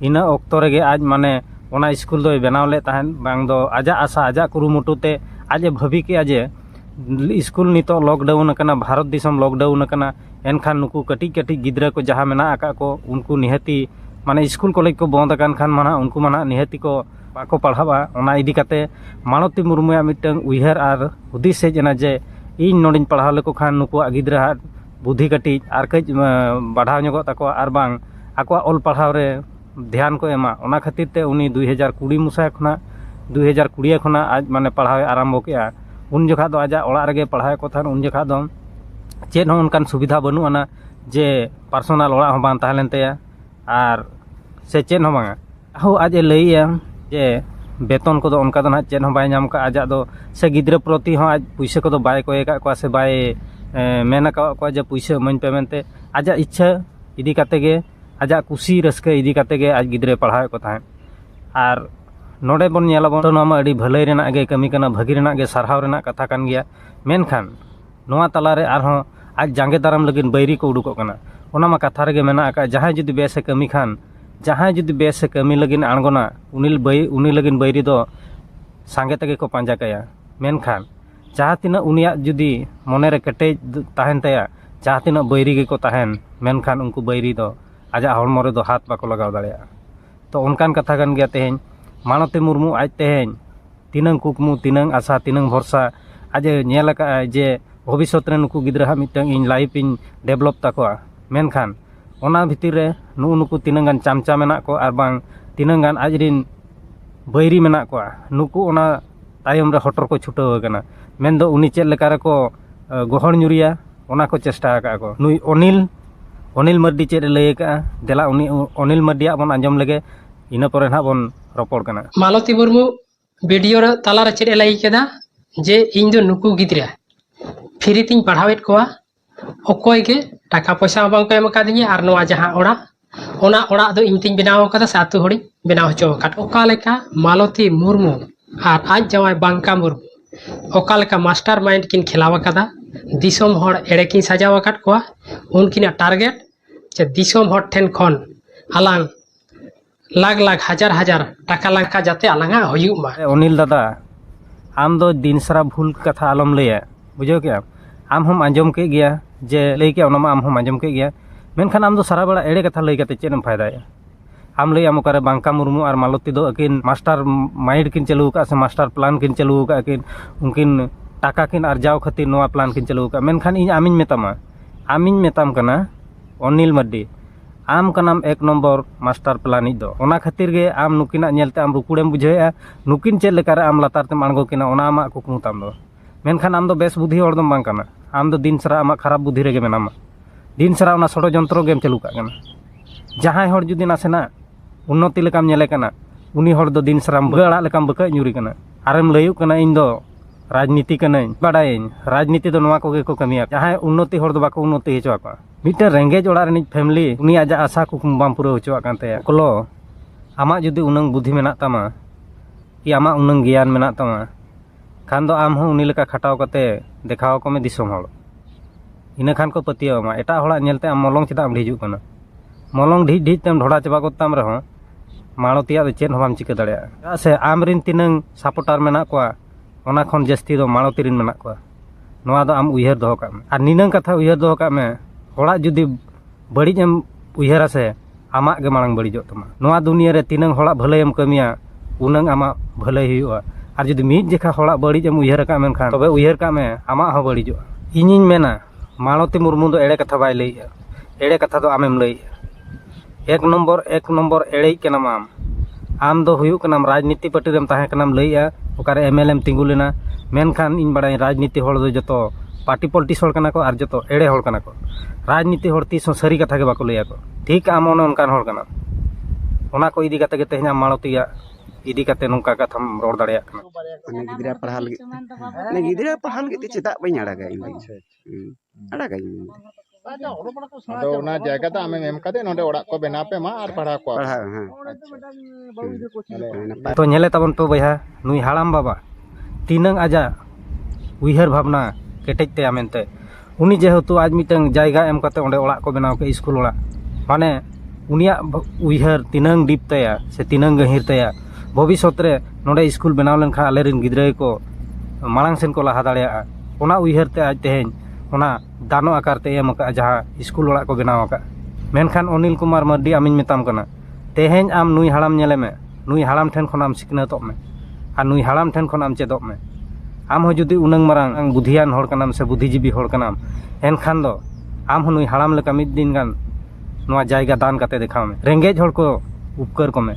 ᱤᱱᱟᱹ ᱚᱠᱛᱚ ᱨᱮᱜᱮ ᱟᱡ ᱢᱟᱱᱮ ᱚᱱᱟ ᱥᱠᱩᱞ ᱫᱚᱭ ᱵᱮᱱᱟᱣ ᱞᱮᱫ ᱛᱟᱦᱮᱸᱫ ᱵᱟᱝ ᱫᱚ ᱟᱡᱟᱜ ᱟᱥᱟ ᱟᱡᱟᱜ ᱠᱩᱨᱩᱢᱩᱴᱩ ᱛᱮ ᱟᱡ ᱮ ᱵᱷᱟᱹᱵᱤ ᱠᱮᱫᱼᱟ ᱡᱮ ᱥᱠᱩᱞ ᱱᱤᱛᱚᱜ ᱞᱚᱠᱰᱟᱣᱩᱱ ᱟᱠᱟᱱᱟ ᱵᱷᱟᱨᱚᱛ ᱫᱤᱥᱚᱢ ᱞᱚᱠᱰᱟᱣᱩᱱ ᱟᱠᱟᱱᱟ ᱮᱱᱠᱷᱟᱱ ᱱᱩᱠᱩ ᱠᱟᱹᱴᱤᱡ ᱠᱟᱹᱴᱤᱡ ᱜᱤᱫᱽᱨᱟᱹ ᱠᱚ ᱡᱟᱦᱟᱸ ᱢᱮᱱᱟᱜ ᱟᱠᱟᱫ ᱠᱚ ᱩᱱᱠᱩ ᱱᱤᱦᱟᱹᱛᱤ ᱢᱟᱱᱮ ᱥᱠᱩᱞ ᱠᱚᱞᱮᱡᱽ ᱠᱚ ᱵᱚᱱᱫᱽ ᱟᱠᱟᱱ ᱠᱷᱟᱱ ᱢᱟ ᱱᱟᱜ ᱩᱱᱠᱩ ᱢᱟ ᱱᱟᱜ ᱱᱤᱦᱟᱹᱛᱤ ᱠᱚ ᱵᱟᱠᱚ ᱯᱟᱲᱦᱟᱜᱼᱟ ᱚᱱᱟ ᱤᱫᱤ ᱠᱟᱛᱮᱫ ᱢᱟᱞᱚᱛᱤ ᱢᱩᱨᱢᱩᱣᱟᱜ ᱢᱤᱫᱴᱟᱹᱱ ᱩᱭᱦᱟᱹᱨ ᱟᱨ ᱦᱩᱫᱤᱥ ᱦᱮᱡ ᱮᱱᱟ ᱡᱮ ᱤᱧ ᱱᱚᱰᱮᱧ ᱯᱟᱲᱦᱟᱣ ᱞᱮᱠᱚ ᱠᱷᱟᱱ ᱱᱩᱠᱩᱣᱟᱜ ᱜᱤᱫᱽᱨᱟᱹ ᱟᱜ ᱵᱩᱫᱷᱤ ᱠᱟᱹᱴᱤᱡ ᱟᱨ ᱠᱟᱹᱡ ᱵᱟᱰᱷᱟᱣ ᱧᱚᱜᱚᱜ ᱛᱟᱠᱚᱣᱟ ᱟᱨ ᱵᱟᱝ ᱟᱠᱚᱣᱟᱜ ᱚᱞ ᱯᱟᱲᱦᱟᱣ ᱨᱮ ᱫᱷᱮᱭᱟᱱ ᱠᱚ ᱮᱢᱟ ᱚᱱᱟ ᱠᱷᱟᱹᱛᱤᱨ ᱛᱮ ᱩᱱᱤ ᱫᱩᱭ ᱦᱟᱡᱟᱨ ᱠᱩᱲᱤ ᱢᱚᱥᱟᱭ ᱠᱷᱚᱱᱟᱜ ᱫᱩᱭ ᱦᱟᱡᱟᱨ ᱠᱩᱲᱤᱭᱟᱹ ᱠᱷᱚᱱᱟᱜ ᱟᱡ ᱢᱟᱱᱮ ᱯᱟᱲᱦᱟᱣ ᱮ ᱟᱨᱟᱢᱵᱚ ᱠᱮᱜᱼᱟ ᱩᱱ ᱡᱚᱠᱷᱟᱡ ᱫᱚ ᱟᱡᱟᱜ ᱚᱲᱟᱜ ᱨᱮᱜᱮ ᱯᱟᱲᱦᱟᱣᱮᱜ ᱠᱚ ᱛᱟᱦᱮᱱ ᱩᱱ ᱡᱚᱠᱷᱟᱡ ᱫᱚ ᱪᱮᱫ ᱦᱚᱸ ᱚᱱᱠᱟᱱ ᱥᱩᱵᱤᱫᱷᱟ ᱵᱟᱹᱱᱩᱜ ᱟᱱᱟ ᱡᱮ ᱯᱟᱨᱥᱚᱱᱟᱞ ᱚᱲᱟᱜ ᱦᱚᱸ ᱵᱟᱝ ᱛᱟᱦᱮᱸ ᱞᱮᱱ ᱛᱟᱭᱟ ᱟᱨ ᱥᱮ ᱪᱮᱫ ᱦᱚᱸ ᱵᱟᱝᱟ ᱦᱳ ᱟᱡ ᱮ ᱞᱟᱹᱭᱮᱜᱼᱟ ᱡᱮ ᱵᱮᱛᱚᱱ ᱠᱚᱫᱚ ᱚᱱᱠᱟ ᱫᱚ ᱱᱟᱦᱟᱜ ᱪᱮᱫ ᱦᱚᱸ ᱵᱟᱭ ᱧᱟᱢ ᱠᱟᱜᱼᱟ ᱟᱡᱟᱜ ᱫᱚ ᱥᱮ ᱜᱤᱫᱽᱨᱟᱹ ᱯᱨᱚᱛᱤ ᱦᱚᱸ ᱟᱡ ᱯᱩᱭᱥᱟᱹ ᱠᱚᱫᱚ ᱵᱟᱭ ᱠᱚᱭ ᱠᱟᱜ ᱠᱚᱣᱟ ᱥᱮ ᱵᱟᱭ ᱢᱮᱱ ᱠᱟᱜ ᱠᱚᱣᱟ ᱡᱮ ᱯᱩᱭᱥᱟᱹ ᱤᱢᱟᱹᱧ ᱯᱮ ᱢᱮᱱᱛᱮ ᱟᱡᱟᱜ ᱤᱪᱪᱷᱟᱹ ᱤᱫᱤ ᱠᱟᱛᱮ ᱜᱮ ᱟᱡᱟᱜ ᱠᱩᱥᱤ ᱨᱟᱹᱥᱠᱟᱹ ᱤᱫᱤ ᱠᱟᱛᱮ ᱜᱮ ᱟᱡ ᱜᱤᱫᱽᱨᱟᱹᱭ ᱯᱟᱲᱦᱟᱣᱮᱜ ᱠᱚ ᱛᱟᱦᱮᱸᱜ ᱟᱨ ᱱᱚᱰᱮ ᱵᱚᱱ ᱧᱮᱞᱟᱵᱚᱱ ᱱᱚᱣᱟ ᱢᱟ ᱟᱹᱰᱤ ᱵᱷᱟᱹᱞᱟᱹᱭ ᱨᱮᱱᱟᱜ ᱜᱮ ᱠᱟᱹᱢᱤ ᱠᱟᱱᱟ ᱵᱷᱟᱹᱜᱤ ᱨᱮᱱᱟᱜ ᱜᱮ ᱥᱟᱨᱦᱟᱣ ᱨᱮᱱᱟᱜ ᱠᱟᱛᱷᱟ ᱠᱟᱱ ᱜᱮᱭᱟ ᱢᱮᱱᱠᱷᱟᱱ ᱱᱚᱣᱟ ᱛᱟᱞᱟᱨᱮ ᱟᱨᱦᱚᱸ ᱟᱡ ᱡᱟᱸᱜᱮ ᱫᱟᱨᱟᱢ ᱞᱟᱹᱜᱤᱫ ᱵᱟᱹᱭᱨᱤ ᱠᱚ ᱩᱰᱩᱠᱚᱜ ᱠᱟᱱᱟ ᱚᱱᱟ ᱢᱟ ᱠᱟᱛᱷᱟ ᱨᱮᱜᱮ ᱢᱮᱱᱟᱜ ᱟᱠᱟᱫ ᱡᱟᱦᱟᱸᱭ ᱡᱩᱫᱤ ᱵᱮᱥᱮ ᱠᱟᱹᱢᱤ ᱠᱷᱟᱱ ᱡᱟᱦᱟᱸᱭ ᱡᱩᱫᱤ ᱵᱮᱥᱮ ᱠᱟᱹᱢᱤ ᱞᱟᱹᱜᱤᱫ ᱟᱬᱜᱚᱱᱟ ᱩᱱᱤ ᱵᱟᱹᱭ ᱩᱱᱤ ᱞᱟᱹᱜᱤᱫ ᱵᱟᱹᱭᱨᱤ ᱫᱚ ᱥᱟᱸᱜᱮ ᱛᱮᱜᱮ ᱠᱚ ᱯᱟᱸᱡᱟ ᱠᱟᱭᱟ ᱢᱮᱱᱠᱷᱟᱱ ᱡᱟᱦᱟᱸ ᱛᱤᱱᱟᱹᱜ ᱩᱱᱤᱭᱟᱜ ᱡᱩᱫᱤ ᱢᱚᱱᱮᱨᱮ ᱠᱮᱴᱮᱡ ᱛᱟᱦᱮᱱ ᱛᱟᱭᱟ ᱡᱟᱦᱟᱸ ᱛᱤᱱᱟᱹᱜ ᱵᱟᱹᱭᱨᱤ ᱜᱮᱠᱚ ᱛᱟᱦᱮᱱ ᱢᱮᱱᱠᱷᱟᱱ ᱩᱱᱠᱩ ᱵᱟᱹᱭᱨᱤ ᱫᱚ ᱟᱡᱟᱜ ᱦᱚᱲᱢᱚ ᱨᱮᱫᱚ ᱦᱟᱛ ᱵᱟᱠᱚ ᱞᱟᱜᱟᱣ ᱫᱟᱲᱮᱭᱟᱜᱼᱟ ᱛᱚ ᱚᱱᱠᱟᱱ ᱠᱟᱛᱷᱟ ᱠᱟᱱ ᱜᱮᱭᱟ ᱛᱮᱦᱮᱧ ᱢᱟᱞᱚᱛᱤ ᱢᱩᱨᱢᱩ ᱟᱡ ᱛᱮᱦᱮᱧ ᱛᱤᱱᱟᱹᱝ ᱠᱩᱠᱢᱩ ᱛᱤᱱᱟᱹᱝ ᱟᱥᱟ ᱛᱤᱱᱟᱹᱝ ᱵᱷᱚᱨᱥᱟ ᱟᱡ ᱮ ᱧᱮᱞ ᱟᱠᱟᱫ ᱟᱭ ᱡᱮ ᱵᱷᱚᱵᱤᱥᱥᱚᱛ ᱨᱮ ᱱᱩᱠᱩ ᱜᱤᱫᱽᱨᱟᱹ ᱦᱟᱸᱜ ᱢᱤᱫᱴᱟᱝ ᱤᱧ ᱞᱟᱭᱤᱯᱷ ᱤᱧ ᱰᱮᱵᱷᱞᱚᱯ ᱛᱟᱠᱚᱣᱟ ᱢᱮᱱᱠᱷᱟᱱ ᱚᱱᱟ ᱵᱷᱤᱛᱤᱨ ᱨᱮ ᱱᱩᱜᱼᱩ ᱱᱩᱠᱩ ᱛᱤᱱᱟᱹᱝ ᱜᱟᱱ ᱪᱟᱢᱪᱟ ᱢᱮᱱᱟᱜ ᱠᱚᱣᱟ ᱟᱨ ᱵᱟᱝ ᱛᱤᱱᱟᱹᱝ ᱜᱟᱱ ᱟᱡ ᱨᱮᱱ ᱵᱟᱹᱭᱨᱤ ᱢᱮᱱᱟᱜ ᱠᱚᱣᱟ ᱱᱩᱠᱩ ᱚᱱᱟ ᱛᱟᱭᱚᱢ ᱨᱮ ᱦᱚᱴᱚᱨ ᱠᱚ ᱪᱷᱩᱴᱟᱹᱣ ᱟᱠᱟᱱᱟ ᱢᱮᱱᱫᱚ ᱩᱱᱤ ᱪᱮᱫ ᱞᱮᱠᱟ ᱨᱮᱠᱚ ᱜᱚᱦᱚᱲ ᱧᱩᱨᱮᱭᱟ ᱚᱱᱟ ᱠᱚ ᱪᱮᱥᱴᱟ ᱟᱠᱟᱫ ᱟᱠᱚ ᱱᱩᱭ ᱚᱱᱤᱞ ᱚᱱᱤᱞ ᱢᱟᱹᱨᱰᱤ ᱪᱮᱫ ᱮ ᱞᱟᱹᱭ ᱟᱠᱟᱫᱼᱟ ᱫᱮᱞᱟ ᱩᱱᱤ ᱚᱱᱤᱞ ᱢᱟᱹᱨᱰᱤᱭᱟᱜ ᱵᱚᱱ ᱟᱸᱡᱚᱢ ᱞᱮᱜᱮ ᱤᱱᱟᱹ ᱯᱚᱨᱮ ᱱᱟᱦᱟᱜ ᱵᱚᱱ ᱨᱚᱯᱚᱲ ᱠᱟᱱᱟ ᱢᱟᱞᱚᱛᱤ ᱢᱩᱨᱢᱩ ᱵᱷᱤᱰᱤᱭᱳ ᱨᱮ ᱛᱟᱞᱟᱨᱮ ᱪᱮᱫ ᱮ ᱞᱟᱹᱭ ᱠᱮᱫᱟ ᱡᱮ ᱤᱧ ᱫᱚ ᱱᱩᱠᱩ ᱜᱤᱫᱽᱨᱟᱹ ᱯᱷᱨᱤ ᱛᱤᱧ ᱯᱟᱲᱦᱟᱣᱮᱫ ᱠᱚᱣᱟ ᱚᱠᱚᱭ ᱜᱮ ᱴᱟᱠᱟ ᱯᱚᱭᱥᱟ ᱦᱚᱸ ᱵᱟᱝᱠᱚ ᱮᱢ ᱟᱠᱟᱫᱤᱧᱟ ᱟᱨ ᱱᱚᱣᱟ ᱡᱟᱦᱟᱸ ᱚᱲᱟᱜ ᱚᱱᱟ ᱚᱲᱟᱜ ᱫᱚ ᱤᱧ ᱛᱤᱧ ᱵᱮᱱᱟᱣ ᱟᱠᱟᱫᱟ ᱥᱮ ᱟᱛᱳ ᱦᱚᱲᱤᱧ ᱵᱮᱱᱟᱣ ᱦᱚᱪᱚ ᱟᱠᱟᱫ ᱚᱠᱟ ᱞᱮᱠᱟ ᱢᱟᱞᱚᱛᱤ ᱢᱩᱨᱢᱩ ᱟᱨ ᱟᱡ ᱡᱟᱶᱟᱭ ᱵᱟᱝᱠᱟ ᱢᱩᱨᱢᱩ ᱚᱠᱟ ᱞᱮᱠᱟ ᱢᱟᱥᱴᱟᱨ ᱢᱟᱭᱤᱱᱰ ᱠᱤᱱ ᱠᱷᱮᱞᱟᱣ ᱟᱠᱟᱫᱟ ᱫᱤᱥᱚᱢ ᱦᱚᱲ ᱮᱲᱮ ᱠᱤᱱ ᱥᱟᱡᱟᱣ ᱟᱠᱟᱫ ᱠᱚᱣᱟ ᱩᱱᱠᱤᱱᱟᱜ ᱴᱟᱨᱜᱮᱴ ᱥᱮ ᱫᱤᱥᱚᱢ ᱦᱚᱲ ᱴᱷᱮᱱ ᱠᱷᱚᱱ ᱟᱞᱟᱝ ᱞᱟᱠᱷ ᱞᱟᱠᱷ ᱦᱟᱡᱟᱨ ᱦᱟᱡᱟᱨ ᱴᱟᱠᱟ ᱞᱟᱝᱠᱟ ᱡᱟᱛᱮ ᱟᱞᱟᱝᱟ ᱦᱩᱭᱩᱜ ᱢᱟ ᱚᱱᱤᱞ ᱫᱟᱫᱟ ᱟᱢ ᱫᱚ ᱫᱤᱱ ᱥᱟᱨᱟ ᱵᱷᱩᱞ ᱠᱟᱛᱷᱟ ᱟᱞᱚᱢ ᱞᱟᱹᱭᱟ ᱵᱩᱡᱷᱟᱹᱣ ᱠᱮᱜᱼᱟᱢ ᱟᱢ ᱦᱚᱢ ᱟᱸᱡᱚᱢ ᱠᱮᱫ ᱜᱮᱭᱟ ᱡᱮ ᱞᱟᱹᱭ ᱠᱮᱜᱼᱟ ᱚᱱᱟ ᱢᱟ ᱟᱢ ᱦᱚᱢ ᱟᱸᱡᱚᱢ ᱠᱮᱫ ᱜᱮᱭᱟ ᱢᱮᱱᱠᱷᱟᱱ ᱟᱢ ᱫᱚ ᱥᱟᱨᱟ ᱵᱮᱲᱟ ᱮᱲᱮ ᱠᱟᱛᱷᱟ ᱞᱟᱹᱭ ᱠᱟᱛᱮᱫ ᱪᱮᱫ ᱮᱢ ᱯᱷᱟᱭᱫᱟᱭᱮᱜᱼᱟ ᱟᱢ ᱞᱟᱹᱭ ᱮᱜᱼᱟᱢ ᱚᱠᱟᱨᱮ ᱵᱟᱝᱠᱟ ᱢᱩᱨᱢᱩ ᱟᱨ ᱢᱟᱞᱚᱛᱤ ᱫᱚ ᱟᱹᱠᱤᱱ ᱢᱟᱥᱴᱟᱨ ᱢᱟᱭᱤᱱᱰ ᱠᱤᱱ ᱪᱟᱹᱞᱩ ᱟᱠᱟᱫᱼᱟ ᱥᱮ ᱢᱟᱥᱴᱟᱨ ᱯᱞᱟᱱ ᱠᱤᱱ ᱪᱟᱹᱞᱩ ᱟᱠᱟᱫᱼᱟ ᱠᱤᱱ ᱩᱱᱠᱤᱱ ᱴᱟᱠᱟ ᱠᱤᱱ ᱟᱨᱡᱟᱣ ᱠᱷᱟᱹᱛᱤᱨ ᱱᱚᱣᱟ ᱯᱞᱟᱱ ᱠᱤᱱ ᱪᱟᱹᱞᱩ ᱟᱠᱟᱫᱼᱟ ᱢᱮᱱᱠᱷᱟᱱ ᱤᱧ ᱟᱢᱤᱧ ᱢᱮᱛᱟᱢᱟ ᱟᱢᱤᱧ ᱢᱮᱛᱟᱢ ᱠᱟᱱᱟ ᱚᱱᱤᱞ ᱢᱟᱨᱰᱤ ᱟᱢ ᱠᱟᱱᱟᱢ ᱮᱠ ᱱᱚᱢᱵᱚᱨ ᱢᱟᱥᱴᱟᱨ ᱯᱞᱟᱱᱤᱡ ᱫᱚ ᱚᱱᱟ ᱠᱷᱟᱹᱛᱤᱨ ᱜᱮ ᱟᱢ ᱱᱩᱠᱤᱱᱟᱜ ᱧᱮᱞᱛᱮ ᱟᱢ ᱨᱩᱠᱩᱲᱮᱢ ᱵᱩᱡᱷᱟᱹᱣᱮᱜᱼᱟ ᱱᱩᱠᱤᱱ ᱪᱮᱫ ᱞᱮᱠᱟᱨᱮ ᱟᱢ ᱞᱟᱛᱟᱨ ᱛᱮᱢ ᱟᱬᱜᱚ ᱠᱤᱱᱟ ᱚᱱᱟ ᱟᱢᱟᱜ ᱠᱩᱠᱢᱩ ᱛᱟᱢ ᱫᱚ ᱢᱮᱱᱠᱷᱟᱱ ᱟᱢ ᱫᱚ ᱵᱮᱥ ᱵᱩᱫᱷᱤ ᱦᱚᱲ ᱫᱚ ᱵᱟᱝ ᱠᱟᱱᱟ ᱟᱢ ᱫᱚ ᱫᱤᱱ ᱥᱟᱨᱟ ᱟᱢᱟᱜ ᱠᱷᱟᱨᱟᱯ ᱵᱩᱫᱷᱤ ᱨᱮᱜᱮ ᱢᱮᱱᱟᱢᱟ ᱫᱤᱱ ᱥᱟᱨᱟ ᱚᱱᱟ ᱥᱚᱲᱚ ᱡᱚᱱᱛᱨᱚ ᱜᱮᱢ ᱪᱟᱹᱞᱩ ᱠᱟᱜ ᱠᱟᱱᱟ ᱡᱟᱦᱟᱸᱭ ᱦᱚᱲ ᱡᱩᱫᱤ ᱱᱟᱥᱮᱱᱟᱜ ᱩᱱᱱᱚᱛᱤ ᱞᱮᱠᱟᱢ ᱧᱮᱞᱮ ᱠᱟᱱᱟ ᱩᱱᱤ ᱦᱚᱲ ᱫᱚ ᱫᱤᱱ ᱥᱟᱨᱟᱢ ᱵᱷᱩᱜᱟᱹ ᱟᱲᱟᱜ ᱞᱮᱠᱟᱢ ᱵᱟᱹᱠᱟᱹ ᱧᱩᱨᱤ ᱠᱟᱱᱟ ᱟᱨᱮᱢ ᱞᱟᱹᱭᱚᱜ ᱠᱟᱱᱟ ᱤᱧ ᱫᱚ ᱨᱟᱡᱽᱱᱤᱛᱤ ᱠᱟᱹᱱᱟᱹᱧ ᱵᱟᱰᱟᱭᱟᱹᱧ ᱨᱟᱡᱽᱱᱤᱛᱤ ᱫᱚ ᱱᱚᱣᱟ ᱠᱚᱜᱮ ᱠᱚ ᱠᱟᱹᱢᱤᱭᱟ ᱡᱟᱦᱟᱸᱭ ᱩᱱᱱᱚᱛᱤ ᱦᱚᱲ ᱫᱚ ᱵᱟᱠᱚ ᱩᱱᱱᱚᱛᱤ ᱦᱚᱪᱚ ᱟᱠᱚᱣᱟ ᱢᱤᱫᱴᱮᱱ ᱨᱮᱸᱜᱮᱡ ᱚᱲᱟᱜ ᱨᱤᱱᱤᱡ ᱯᱷᱮᱢᱞᱤ ᱩᱱᱤ ᱟᱡᱟᱜ ᱟᱥᱟ ᱠᱩᱠᱢᱩ ᱵᱟᱢ ᱯᱩᱨᱟᱹᱣ ᱦᱚᱪᱚᱣᱟᱜ ᱠᱟᱱ ᱛᱟᱭᱟ ᱠᱚᱞᱚ ᱟᱢᱟᱜ ᱡᱩᱫᱤ ᱩᱱᱟᱹᱝ ᱵᱩᱫᱷᱤ ᱢᱮᱱᱟᱜ ᱛᱟᱢᱟ ᱠᱤ ᱟᱢᱟᱜ ᱩᱱᱟᱹᱝ ᱜᱮᱭᱟᱱ ᱢᱮᱱᱟᱜ ᱛᱟᱢᱟ ᱠᱷᱟᱱ ᱫᱚ ᱟᱢ ᱦᱚᱸ ᱩᱱᱤ ᱞᱮᱠᱟ ᱠᱷᱟᱴᱟᱣ ᱠᱟᱛᱮ ᱫᱮᱠᱷᱟᱣ ᱟᱠᱚ ᱢᱮ ᱫᱤᱥᱚᱢ ᱦᱚᱲ ᱤᱱᱟᱹ ᱠᱷᱟᱱ ᱠᱚ ᱯᱟᱹᱛᱭᱟᱹᱣ ᱟᱢᱟ ᱮᱴᱟᱜ ᱦᱚᱲᱟᱜ ᱧᱮᱞ ᱛᱮ ᱟᱢ ᱢᱚᱞᱚᱝ ᱪᱮᱫᱟᱜ ᱮᱢ ᱰᱷᱤᱡᱚᱜ ᱠᱟᱱᱟ ᱢᱚᱞᱚᱝ ᱰᱷᱤᱡ ᱰᱷᱤᱡ ᱛᱮᱢ ᱰᱷᱚᱲᱟ ᱪᱟᱵᱟ ᱜᱚᱫ ᱛᱟᱢ ᱨᱮᱦᱚᱸ ᱢᱟᱲᱚᱛᱤᱭᱟᱜ ᱫᱚ ᱪᱮᱫ ᱦᱚᱸ ᱵᱟᱢ ᱪᱤᱠᱟᱹ ᱫᱟᱲᱮᱭᱟᱜᱼᱟ ᱪᱮᱫᱟᱜ ᱥᱮ ᱟᱢ ᱨᱤᱱ ᱛᱤᱱᱟᱹᱝ ᱥᱟᱯᱚᱴᱟᱨ ᱢᱮᱱᱟᱜ ᱠᱚᱣᱟ ᱚᱱᱟ ᱠᱷᱚᱱ ᱡᱟᱹᱥᱛᱤ ᱫᱚ ᱢᱟᱲᱚᱛᱤ ᱨᱤᱱ ᱢᱮᱱᱟᱜ ᱠᱚᱣᱟ ᱱᱚᱣᱟ ᱫᱚ ᱟᱢ ᱩᱭᱦᱟᱹᱨ ᱫᱚᱦᱚ ᱠᱟᱜ ᱢᱮ ᱟᱨ ᱱᱤᱱᱟᱹᱝ ᱠᱟᱛᱷᱟ ᱩᱭᱦᱟᱹᱨ ᱫᱚᱦᱚ ᱠᱟᱜ ᱢᱮ ᱦᱚᱲᱟᱜ ᱡᱩᱫᱤ ᱵᱟᱹᱲᱤᱡ ᱮᱢ ᱩᱭᱦᱟᱹᱨᱟ ᱥᱮ ᱟᱢᱟᱜ ᱜᱮ ᱢᱟᱲᱟᱝ ᱵᱟᱹᱲᱤᱡᱚᱜ ᱛᱟᱢᱟ ᱱᱚᱣᱟ ᱫᱩᱱᱤᱭᱟᱹ ᱨᱮ ᱛᱤᱱᱟᱹᱝ ᱦᱚᱲᱟᱜ ᱵᱷᱟᱹᱞᱟᱹᱭ ᱮᱢ ᱠᱟᱹᱢᱤᱭᱟ ᱩᱱᱟᱹᱝ ᱟᱢᱟᱜ ᱵᱷᱟᱹᱞᱟᱹᱭ ᱦᱩᱭᱩᱜᱼᱟ ᱟᱨ ᱡᱩᱫᱤ ᱢᱤᱫ ᱡᱚᱠᱷᱟ ᱦᱚᱲᱟᱜ ᱵᱟᱹᱲᱤᱡ ᱮᱢ ᱩᱭᱦᱟᱹᱨ ᱠᱟᱜᱼᱟ ᱢᱮᱱᱠᱷᱟᱱ ᱛᱚᱵᱮ ᱩᱭᱦᱟᱹᱨ ᱠᱟᱜ ᱢᱮ ᱟᱢᱟᱜ ᱦᱚᱸ ᱵᱟᱹᱲᱤᱡᱚᱜᱼᱟ ᱤᱧᱤᱧ ᱢᱮᱱᱟ ᱢᱟᱞᱚᱛᱤ ᱢᱩᱨᱢᱩ ᱫᱚ ᱮᱲᱮ ᱠᱟᱛᱷᱟ ᱵᱟᱭ ᱞᱟᱹᱭᱮᱜᱼᱟ ᱮᱲᱮ ᱠᱟᱛᱷᱟ ᱫᱚ ᱟᱢᱮᱢ ᱞᱟᱹᱭᱮᱜᱼᱟ ᱮᱠ ᱱᱚᱢᱵᱚᱨ ᱮᱠ ᱱᱚᱢᱵᱚᱨ ᱮᱲᱮᱭᱤᱡ ᱠᱟᱱᱟᱢ ᱟᱢ ᱟᱢ ᱫᱚ ᱦᱩᱭᱩᱜ ᱠᱟᱱᱟᱢ ᱨᱟᱡᱽᱱᱤᱛᱤ ᱯᱟᱴᱤ ᱨᱮᱢ ᱛᱟᱦᱮᱸ ᱠᱟᱱᱟᱢ ᱞᱟᱹᱭᱮᱜᱼᱟ ᱚᱠᱟᱨᱮ ᱮᱢ ᱮᱞ ᱮᱢ ᱛᱤᱸᱜᱩ ᱞᱮᱱᱟ ᱢᱮᱱᱠᱷᱟᱱ ᱤᱧ ᱵᱟᱲᱟᱭᱟᱹᱧ ᱨᱟᱡᱽᱱᱤᱛᱤ ᱦᱚᱲ ᱫᱚ ᱡᱚᱛᱚ ᱯᱟᱴᱤ ᱯᱚᱞᱤᱴᱤᱠᱥ ᱦᱚᱲ ᱠᱟᱱᱟ ᱠᱚ ᱟᱨ ᱡᱚᱛᱚ ᱮᱲᱮ ᱦᱚᱲ ᱠᱟᱱᱟ ᱠᱚ ᱨᱟᱡᱽᱱᱤᱛᱤ ᱦᱚᱲ ᱛᱤᱥ ᱦᱚᱸ ᱥᱟᱹᱨᱤ ᱠᱟᱛᱷᱟ ᱜᱮ ᱵᱟᱠᱚ ᱞᱟᱹᱭᱟ ᱠᱚ ᱴᱷᱤᱠ ᱟᱢ ᱚᱱᱮ ᱚᱱᱠᱟᱱ ᱦᱚᱲ ᱠᱟᱱᱟᱢ ᱚᱱᱟ ᱠᱚ ᱤᱫᱤ ᱠᱟᱛᱮ ᱜᱮ ᱛᱮᱦᱮᱧ ᱟᱢ ᱢᱟᱲᱚᱛᱤᱭᱟᱜ ᱤᱫᱤ ᱠᱟᱛᱮ ᱱᱚᱝᱠᱟ ᱠᱟᱛᱷᱟᱢ ᱨᱚᱲ ᱫᱟᱲᱮᱭᱟᱜ ᱠᱟᱱᱟ ᱢᱟᱱᱮ ᱜᱤᱫᱽᱨᱟᱹ ᱯᱟᱲᱦᱟᱣ ᱞᱟᱹᱜᱤᱫ ᱛᱮ ᱢᱟᱱᱮ ᱜᱤᱫᱽᱨᱟᱹ ᱯᱟᱲᱦᱟᱣ ᱞᱟᱹᱜᱤᱫ ᱛᱮ ᱪᱮᱫᱟᱜ ᱵᱟᱹᱧ ᱟᱲᱟᱜᱟ ᱤᱧ ᱫᱚ ᱟᱲᱟᱜᱟᱹᱧ ᱟᱫᱚ ᱚᱱᱟ ᱡᱟᱭᱜᱟ ᱫᱚ ᱟᱢᱮᱢ ᱮᱢ ᱠᱟᱛᱮ ᱱᱚᱰᱮ ᱚᱲᱟᱜ ᱠᱚ ᱵᱮᱱᱟᱣ ᱯᱮ ᱢᱟ ᱟᱨ ᱯᱟᱲᱦᱟᱣ ᱠᱚᱣᱟ ᱯᱟᱲᱦᱟᱣ ᱦᱮᱸ ᱛᱚ ᱧᱮᱞᱮ ᱛᱟᱵᱚᱱ ᱯᱮ ᱵᱚᱭᱦᱟ ᱱᱩᱭ ᱦᱟᱲᱟᱢ ᱵᱟᱵᱟ ᱛᱤᱱᱟᱹᱝ ᱟᱡᱟᱜ ᱩᱭᱦᱟᱹᱨ ᱵᱷᱟᱵᱽᱱᱟ ᱠᱮᱴᱮᱡ ᱛᱟᱭᱟ ᱢᱮᱱᱛᱮ ᱩᱱᱤ ᱡᱮᱦᱮᱛᱩ ᱟᱡ ᱢᱤᱫᱴᱟᱝ ᱡᱟᱭᱜᱟ ᱮᱢ ᱠᱟᱛᱮ ᱚᱸᱰᱮ ᱚᱲᱟᱜ ᱠᱚ ᱵᱮᱱᱟᱣ ᱠᱮᱫ ᱥᱠᱩᱞ ᱚᱲᱟᱜ ᱢᱟᱱᱮ ᱩᱱᱤᱭᱟᱜ ᱩᱭᱦᱟᱹᱨ ᱛᱤᱱᱟᱹᱝ ᱰᱤᱯ ᱛᱟᱭᱟ ᱥᱮ ᱛᱤᱱᱟᱹᱝ ᱜᱟᱹᱦᱤᱨ ᱛᱟᱭᱟ ᱵᱷᱚᱵᱤᱥᱥᱚᱛ ᱨᱮ ᱱᱚᱰᱮ ᱥᱠᱩᱞ ᱵᱮᱱᱟᱣ ᱞᱮᱱᱠᱷᱟᱱ ᱟᱞᱮᱨᱮᱱ ᱜᱤᱫᱽᱨᱟᱹ ᱠᱚ ᱢᱟᱲᱟᱝ ᱥᱮᱱ ᱠᱚ ᱞᱟᱦᱟ ᱫᱟᱲᱮᱭᱟᱜᱼᱟ ᱚᱱᱟ ᱩᱭᱦᱟᱹᱨ ᱛᱮ ᱟᱡ ᱛᱮᱦᱮᱧ ᱚᱱᱟ ᱫᱟᱱᱚ ᱟᱠᱟᱨ ᱛᱮᱭ ᱮᱢ ᱠᱟᱜᱼᱟ ᱡᱟᱦᱟᱸ ᱤᱥᱠᱩᱞ ᱚᱲᱟᱜ ᱠᱚ ᱵᱮᱱᱟᱣ ᱠᱟᱜᱼᱟ ᱢᱮᱱᱠᱷᱟᱱ ᱚᱱᱤᱞ ᱠᱩᱢᱟᱨ ᱢᱟᱨᱰᱤ ᱟᱢᱤᱧ ᱢᱮᱛᱟᱢ ᱠᱟᱱᱟ ᱛᱮᱦᱮᱧ ᱟᱢ ᱱᱩᱭ ᱦᱟᱲᱟᱢ ᱧᱮᱞᱮ ᱢᱮ ᱱᱩᱭ ᱦᱟᱲᱟᱢ ᱴᱷᱮᱱ ᱠᱷᱚᱱ ᱟᱢ ᱥᱤᱠᱷᱱᱟᱹᱛᱚᱜ ᱢᱮ ᱟᱨ ᱱᱩᱭ ᱦᱟᱲᱟᱢ ᱴᱷᱮᱱ ᱠᱷᱚᱱ ᱟᱢ ᱪᱮᱫᱚᱜ ᱢᱮ ᱟᱢ ᱦᱚᱸ ᱡᱩᱫᱤ ᱩᱱᱟᱹᱝ ᱢᱟᱨᱟᱝ ᱵᱩᱫᱷᱤᱭᱟᱱ ᱦᱚᱲ ᱠᱟᱱᱟᱢ ᱥᱮ ᱵᱩᱫᱷᱤ ᱡᱤᱵᱤ ᱦᱚᱲ ᱠᱟᱱᱟᱢ ᱮᱱᱠᱷᱟᱱ ᱫᱚ ᱟᱢ ᱦᱚᱸ ᱱᱩᱭ ᱦᱟᱲᱟᱢ ᱞᱮᱠᱟ ᱢᱤᱫ ᱫᱤᱱ ᱜᱟᱱ ᱱᱚᱣᱟ ᱡᱟᱭᱜᱟ ᱫᱟᱱ ᱠᱟᱛᱮ ᱫᱮᱠᱷᱟᱣ ᱢᱮ ᱨᱮᱸᱜᱮᱡ ᱦᱚᱲ ᱠᱚ ᱩᱯᱠᱟᱹᱨ ᱠᱚᱢᱮ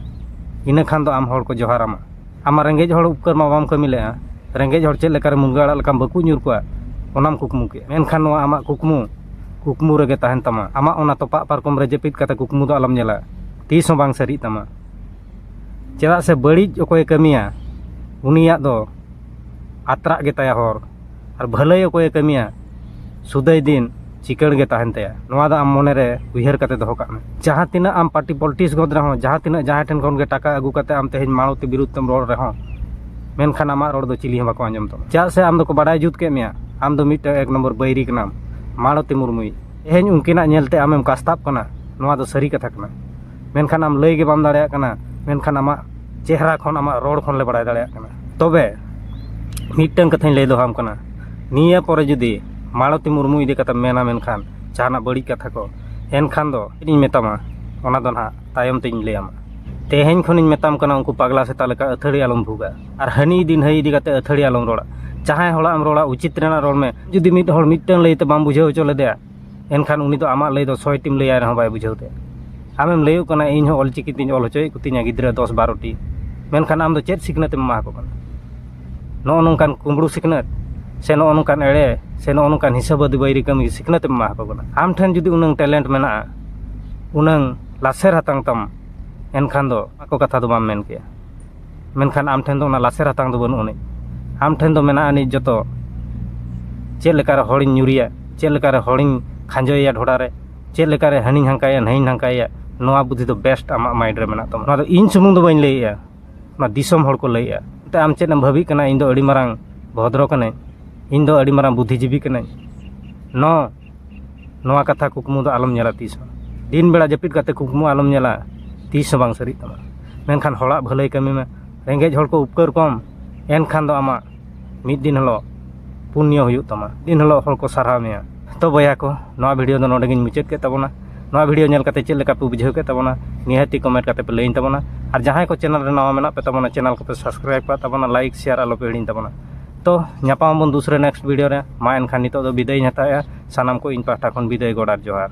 ᱤᱱᱟᱹ ᱠᱷᱟᱱ ᱫᱚ ᱟᱢ ᱦᱚᱲ ᱠᱚ ᱡᱚᱦᱟᱨᱟᱢᱟ ᱟᱢᱟᱜ ᱨᱮᱸᱜᱮᱡ ᱦᱚᱲ ᱩᱯᱠᱟᱹᱨ ᱢᱟ ᱵᱟᱢ ᱠᱟᱹᱢᱤ ᱞᱮᱫᱼᱟ ᱨᱮᱸᱜᱮᱡ ᱦᱚᱲ ᱪᱮᱫ ᱞᱮᱠᱟᱨᱮ ᱢᱩᱱᱜᱟᱹ ᱟᱲᱟᱜ ᱞᱮᱠᱟᱢ ᱵᱟᱹᱠᱩᱵ ᱧᱩᱨ ᱠᱚᱜᱼᱟ ᱚᱱᱟᱢ ᱠᱩᱠᱢᱩ ᱠᱮᱫᱼᱟ ᱢᱮᱱᱠᱷᱟᱱ ᱱᱚᱣᱟ ᱟᱢᱟᱜ ᱠᱩᱠᱢᱩ ᱠᱩᱠᱢᱩ ᱨᱮᱜᱮ ᱛᱟᱦᱮᱱ ᱛᱟᱢᱟ ᱟᱢᱟᱜ ᱚᱱᱟ ᱛᱚᱯᱟᱜ ᱯᱟᱨᱠᱚᱢ ᱨᱮ ᱡᱟᱹᱯᱤᱫ ᱠᱟᱛᱮᱫ ᱠᱩᱠᱢᱩ ᱫᱚ ᱟᱞᱚᱢ ᱧᱮᱞᱟ ᱛᱤᱥ ᱦᱚᱸ ᱵᱟᱝ ᱥᱟᱹᱨᱤᱜ ᱛᱟᱢᱟ ᱪᱮᱫᱟᱜ ᱥᱮ ᱵᱟᱹᱲᱤᱡ ᱚᱠᱚᱭᱮ ᱠᱟᱹᱢᱤᱭᱟ ᱩᱱᱤᱭᱟᱜ ᱫᱚ ᱟᱛᱨᱟᱜ ᱜᱮᱛᱟᱭᱟ ᱦᱚᱨ ᱟᱨ ᱵᱷᱟᱹᱞᱟᱹᱭ ᱚᱠᱚᱭᱮ ᱠᱟᱹᱢᱤᱭᱟ ᱥᱩᱫᱟᱹᱭ ᱫᱤᱱ ᱪᱤᱠᱟᱹᱲ ᱜᱮ ᱛᱟᱦᱮᱱ ᱛᱟᱭᱟ ᱱᱚᱣᱟ ᱫᱚ ᱟᱢ ᱢᱚᱱᱮ ᱨᱮ ᱩᱭᱦᱟᱹᱨ ᱠᱟᱛᱮ ᱫᱚᱦᱚ ᱠᱟᱜ ᱢᱮ ᱡᱟᱦᱟᱸ ᱛᱤᱱᱟᱹᱜ ᱟᱢ ᱯᱟᱨᱴᱤ ᱯᱚᱞᱤᱴᱤᱠᱥ ᱜᱚᱫ ᱨᱮᱦᱚᱸ ᱡᱟᱦᱟᱸ ᱛᱤᱱᱟᱹᱜ ᱡᱟᱦᱟᱸᱭ ᱴᱷᱮᱱ ᱠᱷᱚᱱ ᱜᱮ ᱴᱟᱠᱟ ᱟᱹᱜᱩ ᱠᱟᱛᱮ ᱟᱢ ᱛᱮᱦᱮᱧ ᱢᱟᱲᱚᱛᱤ ᱵᱤᱨᱩᱫᱷ ᱛᱮᱢ ᱨᱚᱲ ᱨᱮᱦᱚᱸ ᱢᱮᱱᱠᱷᱟᱱ ᱟᱢᱟᱜ ᱨᱚᱲ ᱫᱚ ᱪᱤᱞᱤ ᱦᱚᱸ ᱵᱟᱠᱚ ᱟᱸᱡᱚᱢ ᱛᱟᱢᱟ ᱪᱮᱫᱟᱜ ᱥᱮ ᱟᱢ ᱫᱚᱠᱚ ᱵᱟᱰᱟᱭ ᱡᱩᱛ ᱠᱮᱫ ᱢᱮᱭᱟ ᱟᱢ ᱫᱚ ᱢᱤᱫᱴᱮᱱ ᱮᱠ ᱱᱚᱢᱵᱚᱨ ᱵᱟᱹᱭᱨᱤ ᱠᱟᱱᱟᱢ ᱢᱟᱲᱚᱛᱤ ᱢᱩᱨᱢᱩᱭᱤᱡ ᱛᱮᱦᱮᱧ ᱩᱱᱠᱤᱱᱟᱜ ᱧᱮᱞᱛᱮ ᱟᱢᱮᱢ ᱠᱟᱥᱛᱟᱵ ᱠᱟᱱᱟ ᱱᱚᱣᱟ ᱫᱚ ᱥᱟᱹᱨᱤ ᱠᱟᱛᱷᱟ ᱠᱟᱱᱟ ᱢᱮᱱᱠᱷᱟᱱ ᱟᱢ ᱞᱟᱹᱭ ᱜᱮ ᱵᱟᱢ ᱫᱟᱲᱮᱭᱟᱜ ᱠᱟᱱᱟ ᱢᱮᱱᱠᱷᱟᱱ ᱟᱢᱟᱜ ᱪᱮᱦᱨᱟ ᱠᱷᱚᱱ ᱟᱢᱟᱜ ᱨᱚᱲ ᱠᱷᱚᱱ ᱞᱮ ᱵᱟᱲᱟᱭ ᱫᱟᱲᱮᱭᱟᱜ ᱠᱟᱱᱟ ᱛᱚᱵᱮ ᱢᱤᱫᱴᱟᱹᱝ ᱠᱟᱛᱷᱟᱧ ᱞᱟᱹᱭ ᱫᱚᱦᱚᱣᱟᱢ ᱠᱟᱱᱟ ᱱᱤᱭᱟᱹ ᱯᱚᱨᱮ ᱡᱩᱫᱤ ᱢᱟᱞᱚᱛᱤ ᱢᱩᱨᱢᱩ ᱤᱫᱤ ᱠᱟᱛᱮᱢ ᱢᱮᱱᱟ ᱢᱮᱱᱠᱷᱟᱱ ᱡᱟᱦᱟᱱᱟᱜ ᱵᱟᱹᱲᱤᱡ ᱠᱟᱛᱷᱟ ᱠᱚ ᱮᱱᱠᱷᱟᱱ ᱫᱚ ᱪᱮᱫ ᱤᱧ ᱢᱮᱛᱟᱢᱟ ᱚᱱᱟ ᱫᱚ ᱱᱟᱦᱟᱜ ᱛᱟᱭᱚᱢ ᱛᱤᱧ ᱞᱟᱹᱭ ᱟᱢᱟ ᱛᱮᱦᱮᱧ ᱠᱷᱚᱱᱤᱧ ᱢᱮᱛᱟᱢ ᱠᱟᱱᱟ ᱩᱱᱠᱩ ᱯᱟᱜᱽᱞᱟ ᱥᱮᱛᱟ ᱞᱮᱠᱟ ᱟᱹᱛᱷᱟᱹᱲᱤ ᱟᱞᱚᱢ ᱵᱷᱩᱜᱟ ᱟᱨ ᱦᱟᱹᱱᱤ ᱤᱫᱤ ᱱᱟᱹᱭ ᱤᱫᱤ ᱠᱟᱛᱮᱫ ᱟᱹᱛᱷᱟᱹᱲᱤ ᱟᱞᱚᱢ ᱨᱚᱲᱟ ᱡᱟᱦᱟᱸᱭ ᱦᱚᱲᱟᱜ ᱮᱢ ᱨᱚᱲᱟ ᱩᱪᱤᱛ ᱨᱮᱱᱟᱜ ᱨᱚᱲ ᱢᱮ ᱡᱩᱫᱤ ᱢᱤᱫ ᱦᱚᱲ ᱢᱤᱫᱴᱟᱹᱝ ᱞᱟᱹᱭᱛᱮ ᱵᱟᱢ ᱵᱩᱡᱷᱟᱹᱣ ᱦᱚᱪᱚ ᱞᱮᱫᱮᱭᱟ ᱮᱱᱠᱷᱟᱱ ᱩᱱᱤ ᱫᱚ ᱟᱢᱟᱜ ᱞᱟᱹᱭ ᱫᱚ ᱥᱚᱭ ᱴᱤᱢ ᱞᱟᱹᱭᱟᱭ ᱨᱮᱦᱚᱸ ᱵᱟᱭ ᱵᱩᱡᱷᱟᱹᱣ ᱛᱟᱭᱟ ᱟᱢᱮᱢ ᱞᱟᱹᱭᱟᱹᱜ ᱠᱟᱱᱟ ᱤᱧ ᱦᱚᱸ ᱚᱞ ᱪᱤᱠᱤ ᱛᱤᱧ ᱚᱞ ᱦᱚᱪᱚᱭᱮᱫ ᱠᱚᱛᱤᱧᱟ ᱜᱤᱫᱽᱨᱟᱹ ᱫᱚᱥ ᱵᱟᱨᱚᱴᱤ ᱢᱮᱱᱠᱷᱟᱱ ᱟᱢ ᱫᱚ ᱪᱮᱫ ᱥᱤᱠᱷᱱᱟᱹᱛ ᱮᱢ ᱮᱢᱟ ᱠᱚ ᱠᱟᱱᱟ ᱱᱚᱜᱼᱚ ᱱᱚᱝᱠᱟᱱ ᱠᱩᱢᱵᱽᱲᱩ ᱥᱤᱠᱷᱱᱟᱹᱛ ᱥᱮ ᱱᱚᱜᱼᱚ ᱱᱚᱝᱠᱟᱱ ᱮᱲᱮ ᱥᱮ ᱱᱚᱜᱼᱚ ᱱᱚᱝᱠᱟᱱ ᱦᱤᱥᱟᱹ ᱵᱟᱹᱫᱤ ᱵᱟᱹᱭᱨᱤ ᱠᱟᱹᱢᱤ ᱥᱤᱠᱷᱱᱟᱹᱛ ᱮᱢ ᱮᱢᱟ ᱠᱚ ᱠᱟᱱᱟ ᱟᱢ ᱴᱷᱮᱱ ᱡᱩᱫᱤ ᱩᱱᱟᱹᱝ ᱴᱮᱞᱮᱱᱴ ᱢᱮᱱᱟᱜᱼᱟ ᱩᱱᱟᱹᱝ ᱞᱟᱥᱮᱨ ᱦᱟᱛᱟᱝ ᱛᱟᱢ ᱮᱱᱠᱷᱟᱱ ᱫᱚ ᱚᱱᱟ ᱠᱚ ᱠᱟᱛᱷᱟ ᱫᱚ ᱵᱟᱢ ᱢᱮᱱ ᱠᱮᱭᱟ ᱢᱮᱱᱠᱷᱟᱱ ᱟᱢ ᱴᱷᱮᱱ ᱫᱚ ᱚᱱᱟ ᱞᱟᱥᱮᱨ ᱦᱟᱛᱟᱝ ᱫᱚ ᱵᱟᱹᱱᱩᱜ ᱟᱹᱱᱤᱡ ᱟᱢ ᱴᱷᱮᱱ ᱫᱚ ᱢᱮᱱᱟᱜ ᱟᱹᱱᱤᱡ ᱡᱚᱛᱚ ᱪᱮᱫ ᱞᱮᱠᱟᱨᱮ ᱦᱚᱲᱤᱧ ᱧᱩᱨᱮᱭᱟ ᱪᱮᱫ ᱞᱮᱠᱟᱨᱮ ᱦᱚᱲᱤᱧ ᱠᱷᱟᱡᱚᱭᱮᱭᱟ ᱰᱷᱚᱰᱟ ᱨᱮ ᱪᱮᱫ ᱞᱮᱠᱟᱨᱮ ᱦᱟᱹᱱᱤᱧ ᱦᱟᱱᱠᱟᱭᱮᱭᱟ ᱱᱟᱹᱭᱤᱧ ᱱᱟᱝᱠᱟᱭᱮᱭᱟ ᱱᱚᱣᱟ ᱵᱩᱫᱷᱤ ᱫᱚ ᱵᱮᱥᱴ ᱟᱢᱟᱜ ᱢᱟᱭᱤᱱᱰ ᱨᱮ ᱢᱮᱱᱟᱜ ᱛᱟᱢᱟ ᱱᱚᱣᱟ ᱫᱚ ᱤᱧ ᱥᱩᱢᱩᱝ ᱫᱚ ᱵᱟᱹᱧ ᱞᱟᱹᱭᱮᱜᱼᱟ ᱱᱚᱣᱟ ᱫᱤᱥᱚᱢ ᱦᱚᱲ ᱠᱚ ᱞᱟᱹᱭᱮᱜᱼᱟ ᱮᱱᱛᱮ ᱟᱢ ᱪᱮᱫ ᱮᱢ ᱵᱷᱟᱹᱵᱤᱜ ᱠᱟᱱᱟ ᱤᱧ ᱫᱚ ᱟᱹᱰᱤ ᱢᱟᱨᱟᱝ ᱵᱷᱚᱫᱨᱚ ᱠᱟᱹᱱᱟᱹᱧ ᱤᱧ ᱫᱚ ᱟᱹᱰᱤ ᱢᱟᱨᱟᱝ ᱵᱩᱫᱷᱤ ᱡᱤᱵᱤ ᱠᱟᱹᱱᱟᱹᱧ ᱱᱚᱣᱟ ᱱᱚᱣᱟ ᱠᱟᱛᱷᱟ ᱠᱩᱠᱢᱩ ᱫᱚ ᱟᱞᱚᱢ ᱧᱮᱞᱟ ᱛᱤᱥ ᱦᱚᱸ ᱫᱤᱱ ᱵᱮᱲᱟ ᱡᱟᱹᱯᱤᱫ ᱠᱟᱛᱮᱫ ᱠᱩᱠᱢᱩ ᱟᱞᱚᱢ ᱧᱮᱞᱟ ᱛᱤᱥ ᱦᱚᱸ ᱵᱟᱝ ᱥᱟᱹᱨᱤᱜ ᱛᱟᱢᱟ ᱢᱮᱱᱠᱷᱟᱱ ᱦᱚᱲᱟᱜ ᱵᱷᱟᱹᱞᱟᱹᱭ ᱠᱟᱹᱢᱤ ᱢᱮ ᱨᱮᱸᱜᱮᱡ ᱦᱚᱲ ᱠᱚ ᱩᱯᱠᱟᱹᱨ ᱠᱚᱢ ᱮᱱᱠᱷᱟᱱ ᱫᱚ ᱟᱢᱟᱜ ᱢᱤᱫ ᱫᱤᱱ ᱦᱤᱞᱳᱜ ᱯᱩᱱᱱᱚ ᱦᱩᱭᱩᱜ ᱛᱟᱢᱟ ᱫᱤᱱ ᱦᱤᱞᱳᱜ ᱦᱚᱲ ᱠᱚ ᱥᱟᱨᱦᱟᱣ ᱢᱮᱭᱟ ᱛᱚ ᱵᱚᱭᱦᱟ ᱠᱚ ᱱᱚᱣᱟ ᱵᱷᱤᱰᱭᱳ ᱫᱚ ᱱᱚᱰᱮ ᱜᱤᱧ ᱢᱩᱪᱟᱹᱫ ᱠᱮᱫ ᱛᱟᱵᱚᱱᱟ ᱱᱚᱣᱟ ᱵᱷᱤᱰᱭᱳ ᱧᱮᱞ ᱠᱟᱛᱮᱫ ᱪᱮᱫ ᱞᱮᱠᱟ ᱯᱮ ᱵᱩᱡᱷᱟᱹᱣ ᱠᱮᱫ ᱛᱟᱵᱚᱱᱟ ᱱᱤᱦᱟᱹᱛ ᱜᱮ ᱠᱚᱢᱮᱱᱴ ᱠᱟᱛᱮᱫ ᱯᱮ ᱞᱟᱹᱭᱟᱹᱧ ᱛᱟᱵᱚᱱᱟ ᱟᱨ ᱡᱟᱦᱟᱸᱭ ᱠᱚ ᱪᱮᱱᱮᱞ ᱨᱮ ᱱᱟᱣᱟ ᱢᱮᱱᱟᱜ ᱯᱮ ᱛᱟᱵᱚᱱᱟ ᱪᱮᱱᱮᱞ ᱠᱚᱯᱮ ᱥᱟᱵᱥᱠᱨᱟᱭᱤᱵᱽ ᱠᱟᱜ ᱛᱟᱵᱚᱱᱟ ᱞᱟᱭᱤᱠ ᱥᱮᱭᱟᱨ ᱟᱞᱚᱯᱮ ᱦᱤᱲᱤᱧ ᱛᱟᱵᱚᱱᱟ ᱛᱚ ᱧᱟᱯᱟᱢ ᱟᱵᱚᱱ ᱫᱩᱥᱨᱟ ᱱᱮᱠᱥᱴ ᱵᱷᱤᱰᱤᱭᱳ ᱨᱮ ᱢᱟ ᱮᱱᱠᱷᱟᱱ ᱱᱤᱛᱚᱜ ᱫᱚ ᱵᱤᱫᱟᱹᱭ ᱤᱧ ᱦᱟᱛᱟᱣᱮᱜᱼᱟ ᱥᱟᱱᱟᱢ ᱠᱚ ᱤᱧ ᱯᱟᱦᱴᱟ ᱠᱷᱚᱱ ᱵᱤᱫᱟᱹᱭ ᱜᱚᱰ ᱟᱨ ᱡᱚᱦᱟᱨ